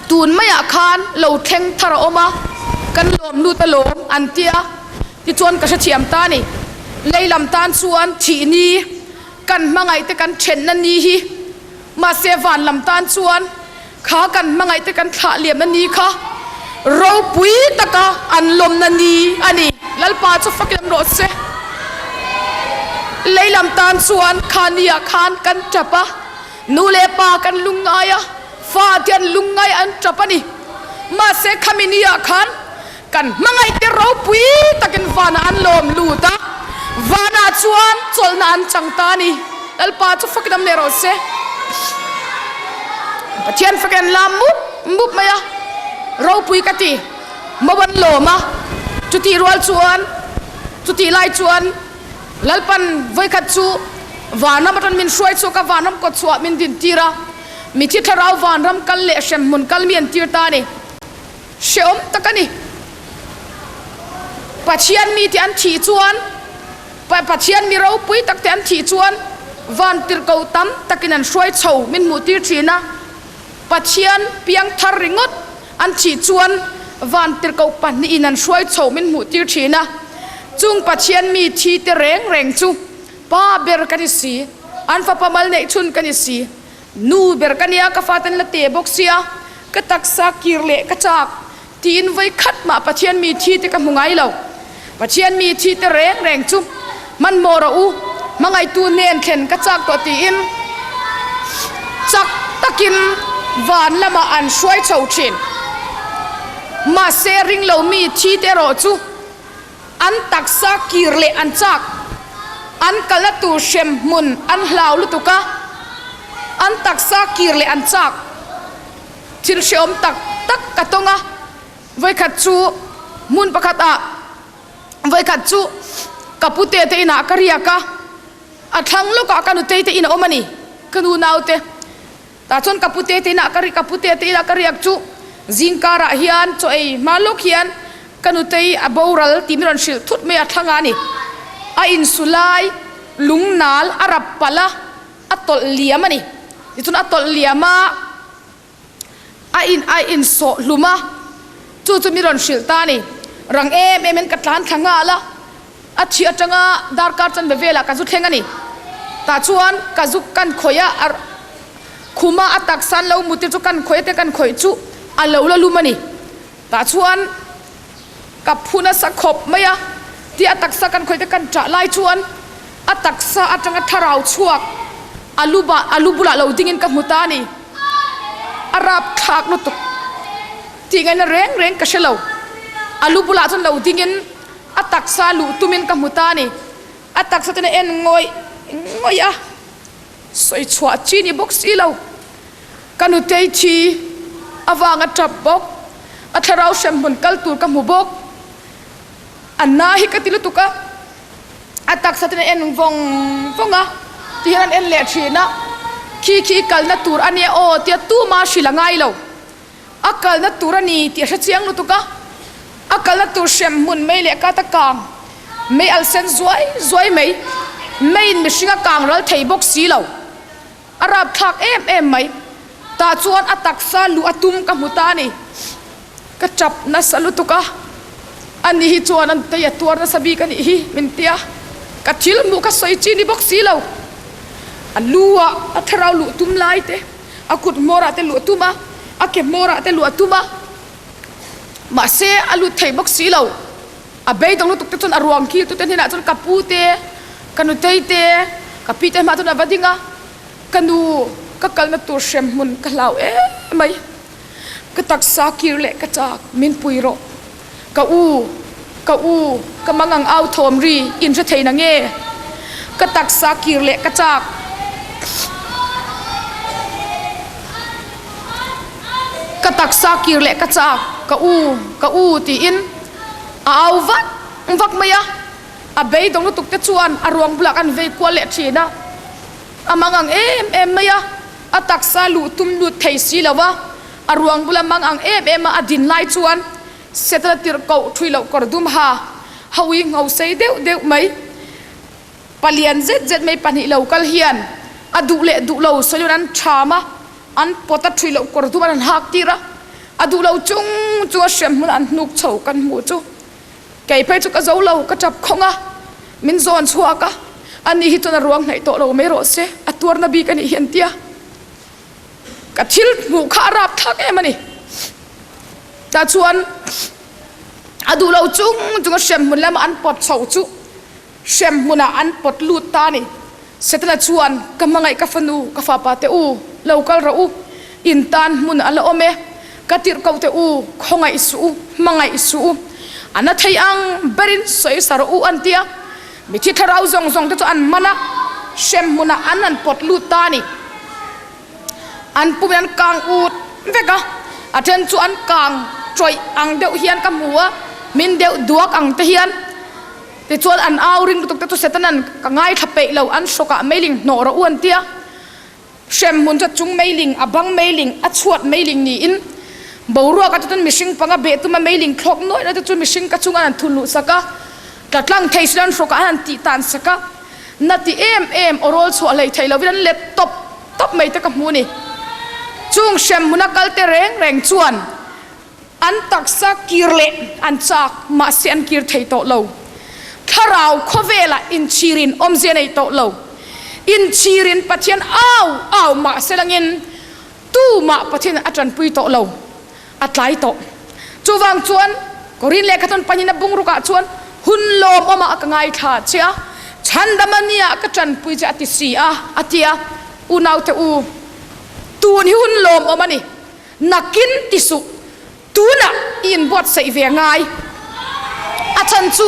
Speaker 1: tun maiah khan lo thleng thar a awm a kan lawm nu te lawm an tia tichuan ka hrethiam ta ni leilam tan chuan thih ni kan hmangaih te kan thenna ni hi mahse van lam tan chuan kha kan hmangaihte kan thlah liamna ni kha ropui taka an lawmna ni a ni lalpa chu fakin rawh se leilam tan chuan khania khan kan tap a nu leh pa kan lungngai a fa ten lungngai an tap ani mahse khami ni ah khan kan hmangaihte ropui takin vana an lawm lut a vana chuan chawlhna an chang ta ni lalpa chu fakin am ne rawh se pathian fakin lam mup mup mai a ropui ka ti mawan lawma chuti rual chuan chuti lai chuan lalpan vawikhat chu vanam atan min hruai chu ka vanam ko chuah min din tira mi thi thlarau vanram kal leh hrem mun kal mian tir ta ni hreawm tak a ni pathian mi te an thih chuan pathian mi ropui tak te an thih chuan van tirko tam takin an hruai chho min hmuh tir thin a pathian piangthar ringawt an thih chuan van tirko pahnihin an hruai chho min hmuh tir thin a chung pathian mi thi te reng reng chu pa ber kan ni si an fa pamal neih chhun kan ni si nu ber ka nia ka faten la te bawk sia ka taksa kir leh ka chak tiin voi khat mah pathian mi thi te ka hmu ngai lo pathian mi thi te reng reng chu man mora u hmangaitu nen thlen ka chak tawh tiin chak takin van lama an hruai chho thin mahse ring lo mi thi te erawh chu an taksa kir leh an chak an kala tur hremhmun an hlau lutuka an taksa kir leh an chak thil hreawm tak tak ka tonga vawikhat chu hmun pakhat ah vawikhat chu ka pute te inah ka riaka a thlang lawkah ka nutei te in a awm ani ka nunaute ta chuan ka pute te inah ka ri ka pute te inah ka riak chu zingkarah hian chaw ei hma lawk hian ka nutei a boral tih min rawn hrilh thut mai a thlang a ni a insulai lungnal a rap palh a a tawlh liam a ni tichuan a tawlh liam a a in a insawh hlum a chu chu min rawn hrilh ta ni rang em emin ka tlan thla nghal a a chi atanga darkar chanve velah ka zu thleng ani tah chuan ka zu kan khawih a ar khuma a taksan lo muti chu kan khawih te kan khawih chu a lo la lum ani tah chuan ka phu nasa khawp mai a ti a taksa kan khawih te kan chah lai chuan a taksa atanga thlarau chuak a luba a lu bula lo dingin ka hmu ta ni a rapthlak lutuk tih ngaihna reng reng ka hre lo a lu bulah chuan lo dingin a taksa luh tumin ka hmu ta ni a taksa ten a en ngawih ngawih a sawi chhuah chi ni bawk si lo ka nutei thi avanga tap bawk a thlarau hremhmun kal tur ka hmu bawk a na hi ka ti lutuk a a taksa ten a en vawng vawng a tihian an en leh thin a khi khi kalna tur ania aw tia tumah hrilh a ngai lo a kalna tur a ni tih a hrechiang lutuk a a kalna tur hremhmun mei leh kata kang mei al sen zuai zuai mai meiin mihring a kang ral thei bawk si lo a rapthlak em em mai tah chuan a taksa luh a tum ka hmu ta ni ka tap nasa lutuk a ani hi chuan an tei a tuar nasa bik ani hi min tia ka thil hmuh ka sawi chi ni bawk si lo a lu a a thlarau luh tum lai te a kut hmawrah te luh tum a a ke hmawrah te luh tum a mahse a lut thei bawk si lo a beidawng lutuk te chuan a ruang kil tute hnenah chuan ka pu te ka nutei te ka pi te hmaah chuan a va ding a ka nu ka kalna tur hremhmun ka hlau em mai ka taksa kir leh ka chak min pui rawh ka u ka u ka mangang au thawm ri in hre thei nange ka taksa kir leh ka chak ka taksa kir leh ka chak ka u ka u tiin a au vak vak mai a a beidawng lutuk te chuan a ruang bulah an vei kual leh thin a a mangang em em mai a a taksa luh tum lut thei si lo a a ruang bula mangang em em a din lai chuan setla tirhkoh ṭhuilo kawr dum ha hawii ngho sei deuh deuh mai palian zet zet mai pahnih lo kal hian a duh leh duh lo sawiin an ṭham a an pawt a ṭhuilo kawr dum an hak tir a a duh lo chung chu a hremhmun an hnuk chho kan hmu chu kei phei chu ka zo lo ka ṭap khawng a min zawn chhuak a ani hi chuan a ruang hnaih tawh lo mai rawh se a tuar na bik anih hian tia ka thil hmuh kha a rapthlak em ani ta chuan a duh lo chung chunga hremhmun lama an pawt chho chu hremhmuna an pawt lut ta ni setana chuan ka mangaih ka fanu ka fa pa te u lo kal rawh u in tan hmun a la awm e ka tirhkoh te u khawngaih suh u mangaih suh u ana thei ang berin sawi sar u an tia mi thi thlarau zawng zawng te chu an man a sem hmuna an han pawt lut ta ni an pum an kang ut vek a a then chu an kang chawih ang deuh hian ka hmu a min deuh duak ang te hian ti chuan an au ring lutuk te chu setanan ka ngaithla peih lo an sokah meiling hnawra uan tia hremhmun chu chung meiling a bang meiling a chuat meiling niin boruak a chuan mihring panga beh tuma meiling thlawk nuai na te chu mihring ka chunga an thun luh saka tlatlang thei silan hroka an tih tan saka na ti em em orawl chuah hlei thei lovin an let top top mai te ka hmu ni chung hremhmuna kalte reng reng chuan an taksa kir leh an chak mahse an kir thei tawh lo thlarau khawvela inchirin awmzia nei tawh lo inchirin pathian au au mah se langin tumah pathian a tanpui tawh lo a tlai tawh chuvang chuan korin lehkhathawn panin a bungrukah chuan hun lawm awmah ka ngaithla che a chhandamania ka tanpui che a ti si a a tia unaute u tun hi hun lawm awm ani nakin ti suh tuna i inbuatsaih ve ngai a chhan chu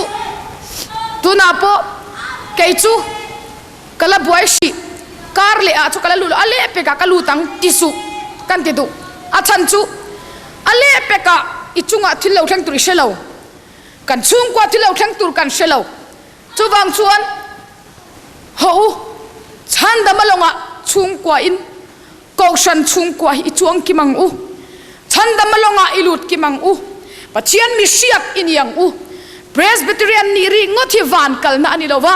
Speaker 1: tunah pawh kei chu ka la buai si kar leh ah chu ka la lut a lepek ah ka lut ang ti suh kan ti duh a chhan chu a lepek ah i chungah thil lo thleng tur i hre lo kan chhungkua thil lo thleng tur kan hre lo chuvang chuan ho u chhandam alonga chhungkua in kohran chungkua hi chuang kim ang u chhandam alonga ilut kim ang u pathian mi siak iniang u presbyterian ni ri ngot hi van kalna ani lova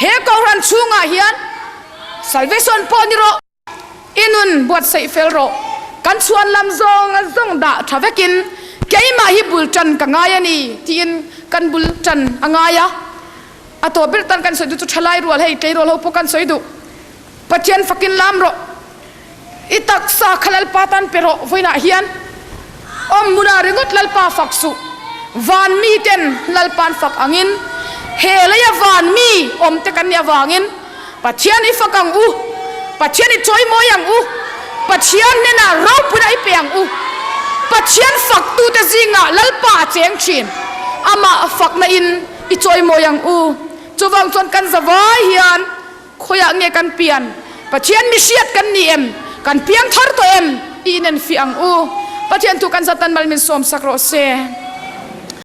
Speaker 1: he kohran chunga hian salvation po ni ro inun buat sei fel ro kan chuan lam zong zong da tha vekin keima hi bul tan ka ngai ani tiin kan bul tan angaya ato bil tan kan soidu chu thalai rual hei tlei rual ho po kan soidu pathian fakin lam ro i taksa kha lalpa tan pe ro vuina hian awmuna ringot lalpa fak su van mi ten lalpan fak angin he leia van mi om te kan ni awangin pathian i fak ang u pathian i choi moi ang u pathian nena ropuna i pe ang u pathian faktu te zinga lalpa cheng thin ama fakna in i choi moi ang u chuvang chuan kan zavai hian khawiah nge kan pian pathian mi hriat kan ni em kan piang thar to em inen fi ang u pathian thu kan satan mal min som sak ro se